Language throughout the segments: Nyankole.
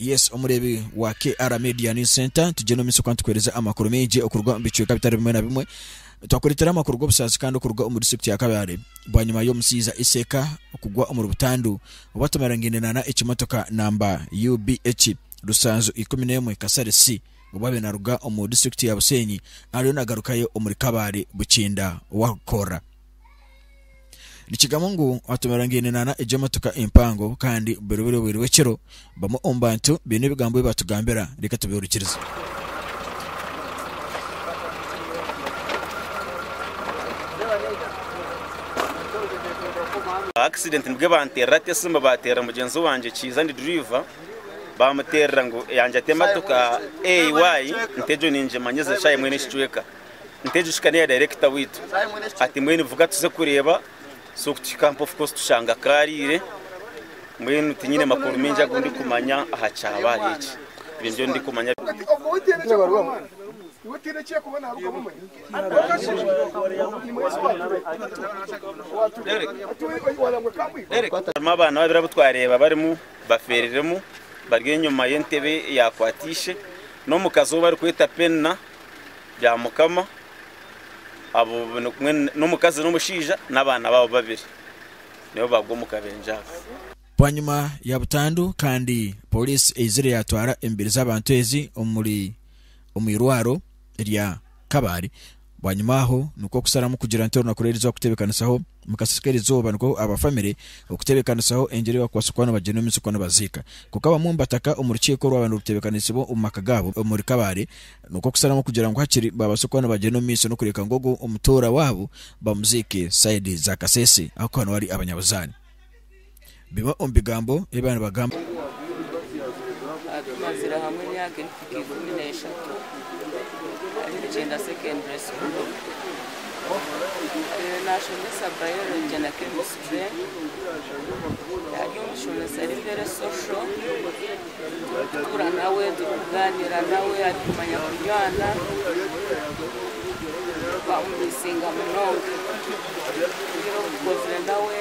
Yes omureebi wa KR Media News Centre, nitugyenda omu maisho kandi tukuheereza amakuru maingi okuruga omu bicweka bitari bimwe na bimwe. Twakureetera amakuru g'obusaasi kandi okuruga omu disiturikiti ya Kabale bwanyima y'omushaija Iseka kugwa omuri butandu obu atamarangine nana ekimotoka namba UBH Rusanju ikumi n'emwe Kasare C obu abaire naruga omu disiturikiti ya Bushenyi ariyo nagarukayo omuri Kabale Bukinda Warukoorra. Nikigambwa ngu hatomerangaine nana egyo emotoka empango kandi buri buri obwire bw'ekiro bamwe omu bantu baine ebigambo ebi batugambira reka tubehurikirize. accident nibwe banterera ati esimba baterera mugyenzi wangye kiiza ndi driver bamuterera ngu yangye ati emotoka AY nti egyo ningimanya eze shaaha emwe nekicweka Nitejushika neya director waitu ati mbwenu vuga tuze kureba so kutuhika mpofu coz tushanga akarire mbwenu tinyine makuru mingi agundikumanya aha kyabaye eki ebyo nibyo ndikumanya. Harimu abaana babiri abu twareeba barimu baferiremu bari enyuma y'entebe eyakwata ishe n'omukazi ou barikweta Penina rya mukama abo nikumwe n'omukazi n'omushaija n'abaana baabo babiri nibo baagwa omu kabenje ako. Bwanyima ya butandu kandi pooriisi eizire yaatwara emibiri z'abantu ezi omuri omu irwaro rya Kabale. Bwanyima aho nikwo kusharamu kugira nti orunaku rw'erizooba kuteebekanisaho. Mukasheeshe k'erizooba nikwo aba famire okuteebekanisaho engyero ei bakubaasa kuba nibagyenda omu isiko nibaziika. Kwonka abamwe omu bataka omu rukiiko orwaaba niruteebekanisibwa omu maka gaabo omuri Kabale, nikwo kusharamu kugira ngu hakiri baabaase kuba nibagyenda omu maiso n'okureeka ngu ogwo omutoora waabo bamuziike sayidi za Kasese ahakuba niwe ari abanyabuzaani. Bimwe omu bigambo ebi baaba nibagamba. Tumazire hamwe emyaka erikuhika ikumi n'eshatu ahari Rugyenda Secondary School. Naashomesa Biology na Chemistry. Ari omushomesa ari very social. Turikutuura nawe, turikugaaniira nawe, arikumanya kunywana. Twamumiisinga munonga. Twine obukozire nawe.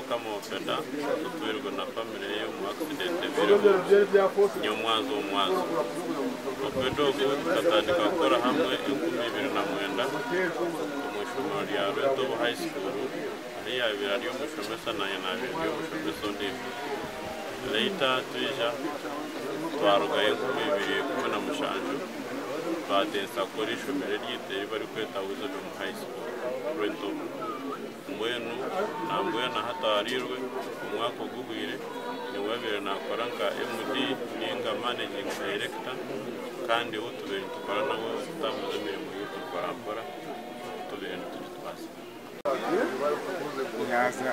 Mukama wa Fedha otwirwe na family ye omu accident ebireho nyomwazo omu mwazo. Oped ogu tukatandika kukora hamwe enkumi ibiri na mwenda omu ishomero rya Rwetobo High School ahu yabire ari omushomesa nanye nabire ndi omushomesa ondijo. Later twija twarugayo enkumi ibiri ikumi na mushanju twatensya kukora ishomero eryeitu eribarikweta Wisdom High School Rwetobo. Mbwenu nambwenu ahataarirwe omwaka oguhwire niwabaire nakora nka MD ninga Managing Director kandi ou tubaire nitukora nawe okutambuza emirimo yaitu mporampora tubaire nitugitwaza. Yaaza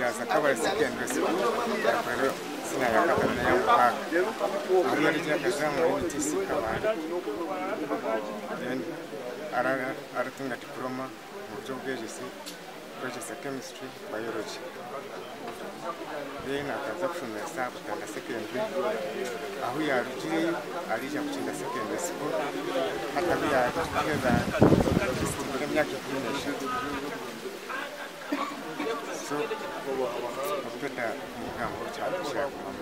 yaaza Kabale Secondary School yakorera Senior ya Kabale n'eya Mutaaga. Ahu yarugire akaza omuri UTC Kabale then ara aratunga Diploma. omu by'obwegyese kwegyesa chemistry biology then akaza kushomesa Butanda secondary ahu yarugireyo arija Mukinga secondary school hati ahu yarikuheza ekitibwa emyaka ikumi n'eshatu so obuteda kumugambaho kyagumamu